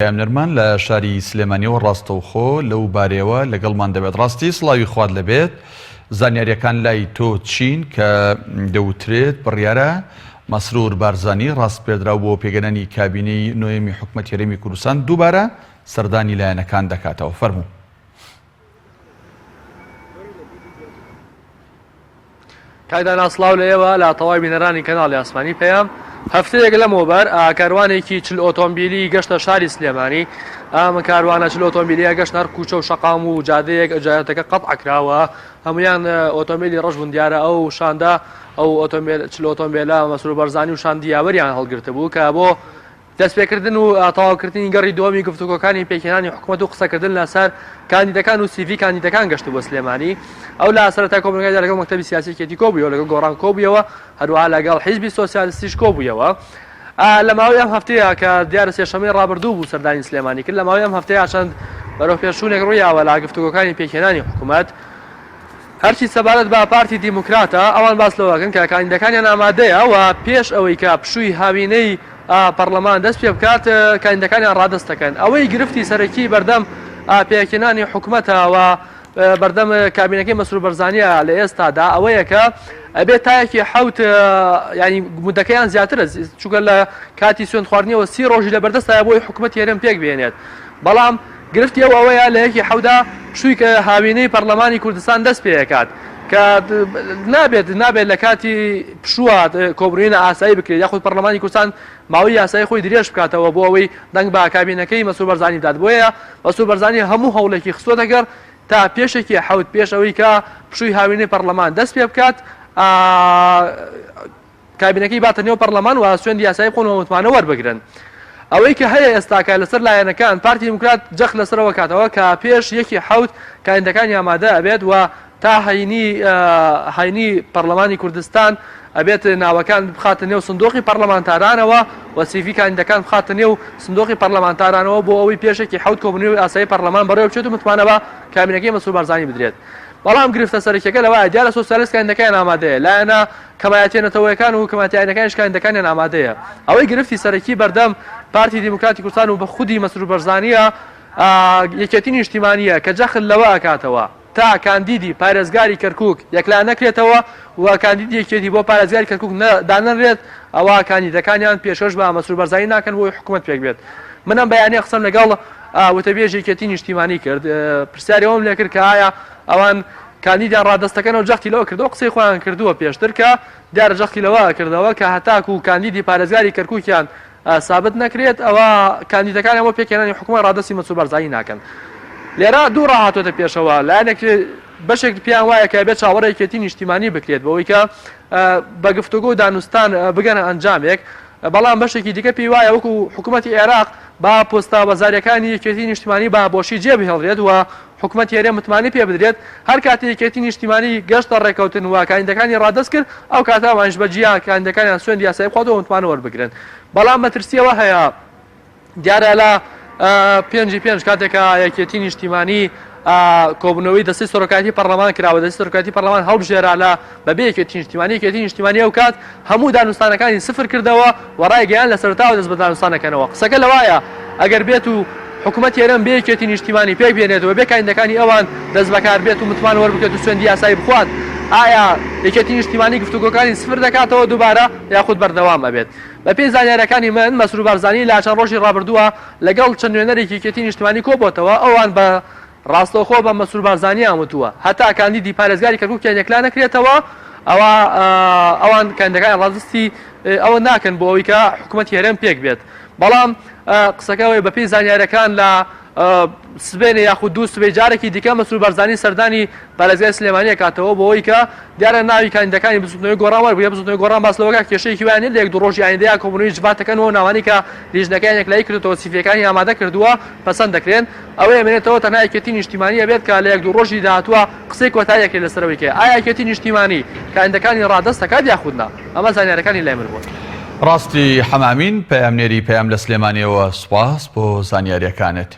پەیام نەرمان لە شاری سلێمانیەوە ڕاستەوخۆ لەو بارەیەوە لەگەڵمان دەبێت ڕاستی سڵاوی خوات لەبێت زانیاریەکان لای تۆ چین کە دەوترێت بڕیارە مەسرور بارزانی ڕاست پێدراو بۆ پێگەنانی کابینەی نۆیەمی حکومەت هەرێمی کوردستان دووبارە سەردانی لایەنەکان دەکاتەوە فەرموو. کاک دانا سڵاو لە ئێوە لە تەواوی بینەرانی کەناڵی ئاسمانی پەیام هەفتەیەک لەمەوبەر کاروانێکی چل ئۆتۆمبیلی گەشتە شاری سلێمانی ئەم کاروانە چل ئۆتۆمبیلیە گەشت هەر کوچە و شقام و جادەیەک ئەجارەتەکە قەت عکراوە هەمویان ئۆتۆمبیلی ڕژبوون دیارە ئەو شاندا ئەو ئۆتۆمبیل چل ئۆتۆمبیلە مەسرور بەرزانی و شاندیاوەریان هەڵگرتبوو کە بۆ دەستپێکردن و تەواوکردنی گەڕی دووەمی گفتوگۆکانی پێکهێنانی حکومەت و قسەکردن لەسەر کاندیدەکان و سیڤی کاندیدەکان گەشتبووە سلێمانی. ئەو لە سەرەتای کۆبوونەوەکەیدا لەگەڵ مەکتەبی سیاسی یەکێتی کۆبوویەوە، لەگەڵ گۆڕان کۆبوویەوە، هەروەها لەگەڵ حیزبی سۆسیالستیش کۆبوویەوە. لە ماوەی ئەم هەفتەیە کە دیارە سێشەممەی ڕابردوو بوو سەردانی سلێمانی کرد، لە ماوەی ئەم هەفتەیە چەند بەرەوپێشچوونێک ڕوویاوە لە گفتوگۆکانی پێکهێنانی حکومەت. هەرچی سەبارەت بە پارتی دیموکراتە، ئەوان باس لەوە ئەکەن کە کاندیدەکانیان ئامادەیە و پێش ئەوەی کە پشووی هاوینەی پەڕڵەمان دەست پێ بکات کاندیدەکانیان ڕادەست دەکەن. ئەوەی گرفتی سەرەکی بەردەم پێکهێنانی حکومەتە و بەردەم کابینەکەی مەسرور بەرزانیە لە ئێستادا ئەوەیە کە ئەبێت تا یەکی حەوت یانی مودەکەیان زیاترە چونکە لە کاتی سوێندخواردنیەوە سی ڕۆژی لەبەردەستایە بۆی حکومەتی هەرێم پێک بهێنێت بەڵام گرفتی ئەو ئەوەیە لە یەکی حەودا پشوویک هاوینەی پەڕلەمانی کوردستان دەست پێ ئەکات کە نابێت نابێت لە کاتی پشووات کۆبرینە ئاسایی بکرێت یاخود پەڕلەمانی کوردستان ماوەی یاسایی خۆی درێژ بکاتەوە بۆ ئەوەی دەنگ بە کابینەکەی مەسرور بەرزانی بدات بۆیە مەسرور بەرزانی هەموو هەوڵێکی خستۆتە گەڕ تا پێشێکی حەوت پێش ئەوەی کە پشووی هاوینەی پەڕلەمان دەست پێ بکات کابینەکەی باتە نێو پەڕلەمان و سوێندی یاسایی بخۆن و متمانە وەربگرن. ئەوەی کە هەیە ئێستاکە لەسەر لایەنەکان، پارتی دیموکرات جەخت لەسەر ئەوە کاتەوە کە پێش یەک ی حەوت کاندیدەکانی ئامادە ئەبێت و تا هەینی هەینی پەڕلەمانی کوردستان ئەبێت ناوەکان بخاتە نێو سندوقی پەڕلەمانتارانەوە و سیڤی کاندیدەکان بخاتە نێو سندوقی پەڕلەمانتارانەوە بۆ ئەوەی پێش یەک ی حەوت کۆبوونەوەی ئاسایی پەڕلەمان بەڕێوەبچێت و متمانە بە کابینەکەی مەسرور بارزانی بدرێت. بەڵام گرفتە سەرەکیەکە لەوەیە دیارە سۆسیالیست کاندیدەکەیان ئامادەیە لایەنە کەمایەتیە نەتەوەیەکان و کەمایەتی ئاینەکانیش کاندیدەکانیان ئامادەیە، ئەوەی گرفتی سەرەکی بەردەم پارتی دیموکراتی کوردستان و بە خودی مەسرور بەرزانیە یەکێتی نیشتیمانیە کە جەخت لەوە ئەکاتەوە تا کاندیدی پارێزگاری کەرکوک یەکلا نەکرێتەوە و کاندیدی یەکێتی بۆ پارێزگاری کەرکوک دانەنرێت ئەوا کاندیدەکانیان پێشکەش بە مەسرور بەرزانی ناکەن بۆ ئەوەی حکومەت پێک بێت من ئەم بەیانە قسەم لەگەڵ وتەبێژی یەکێتی نیشتیمانی کرد پرسیاری ئەوەم لێکرد کە ئایا ئەوان کاندیدە ڕادەستەکانەوە جەختی لەوە کردەوە، قسەی خۆیان کردووە پێشتر کە دیارە جەختی لەوە کردەوە کە هەتاکوو کاندیدی پارێزگاری کەرکووکیان سابت نەکرێت ئەوا کاندیدەکانیان بۆ پێکهێنانی حکومەت ڕادەستی مەسرور بارزانی ناکەن. لێرە دوو ڕا هاتووەتە پێشەوە، لایەنێک بەشێک پێیان وایە کە ئەبێت چاوەڕێی یەکێتی نیشتیمانی بکرێت بەوەی کە بە گفتوگۆ و دانوستان بگەنە ئەنجامێک، بەڵام بەشێکی دیکە پێی وایە وەکوو حکوومەتی عێراق با پۆستە وەزارییەکانی یەکێتی نیشتیمانی با بۆشی جێبهێڵرێت و حکومەتی هەرێم متمانەی پێ بدرێت، هەرکاتێ یەکێتی نیشتیمانی گەشتە ڕێککەوتن و کاندیدەکانی ڕادەست کرد، ئەو کاتە ئەوانیش بە جیا کاندیدەکانیان سوێندی یاسایی بخواتەوە و متمانە وەربگرن. بەڵام مەترسی ئەوە هەیە دیارە لە پێنجی پێنج کاتێک کە یەکێتی نیشتیمانی کۆبوونەوەی دەستەی سەرۆکایەتی پەرلەمان کرا و دەستەی سەرۆکایەتی پەرلەمان هەڵبژێرا لە بەبێ یەکێتی نیشتیمانی یەکێتی نیشتیمانی ئەوکات هەموو دانوستانەکانی سفر کردەوە و ڕایگەیان لە سەرەتاوە دەست بە دانوستان دەکەنەوە قسەکە لەوایە ئەگەر بێت و حکومەتی هەرێم بێ یەکێتی نیشتیمانی پێک بێنێتەوە بێ کایندەکانی ئەوان دەست بەکار بێت و متمان وەربکێت و سوێندی یاسایی بخوات ئایا یەکێتی نیشتیمانی گفتوگۆکانی سفر دەکاتەوە دووبارە یاخود بەردەوام ئەبێت بەپێی زانیارەکانی من مەسرور بارزانی لە چەند ڕۆژی ڕابردووە لەگەڵ چەند نوێنەرێکی یەکێتی نیشتیمانی کۆبۆتەوە ئەوان بە ڕاستەوخۆ بە مەسرور بارزانییان وتووە، هەتا کاندیدی پارێزگاری کەرکووکیان یەکلا نەکرێتەوە، ئەوا ئەوان کاندیدەکانیان ڕادەستی ئەوە ناکەن بۆ ئەوەی کە حکوومەتی هەرێم پێک بێت. بەڵام قسەکە ئەوەیە بەپێی زانیارییەکان لە سبەینێ یاخود دوو سبەی جارێکی دیکە مەسرور بارزانی سەردانی پارێزگای سلێمانی ئەکاتەوە بەوەی کە دیارە ناوی کاندیدەکانی بزوتنەوەی گۆڕان وەربگرێت، بزوتنەوەی گۆڕان باس لەوەکات کێشەیەکی وایان نیە لە یەک دوو ڕۆژی ئایندە یا کۆبونەوەی جڤات دەکەن و ناوانەی کە لیژنەکەیان یەکلایی کردۆتەوە سیڤیەکانی ئامادە کردووە پەسەند دەکرێن، ئەوەی ئەمێنێتەوە تەنها یەکێتی نیشتیمانی ئەبێت کە لە یەک دوو ڕۆژی داهاتووە قسەی کۆتایی ئەکرێت لەسەر ئەوەی کە ئایا یەکێتی نیشتیمانی کاندیدەکانی ڕادەست ئەکات یاخود نا، ئەمە زانیارەکانی لای من بوون. ڕاستی حەمامین پەیامنێری پەیام لە سلێمانیەوە سوپاس بۆ زانیاریەکانت.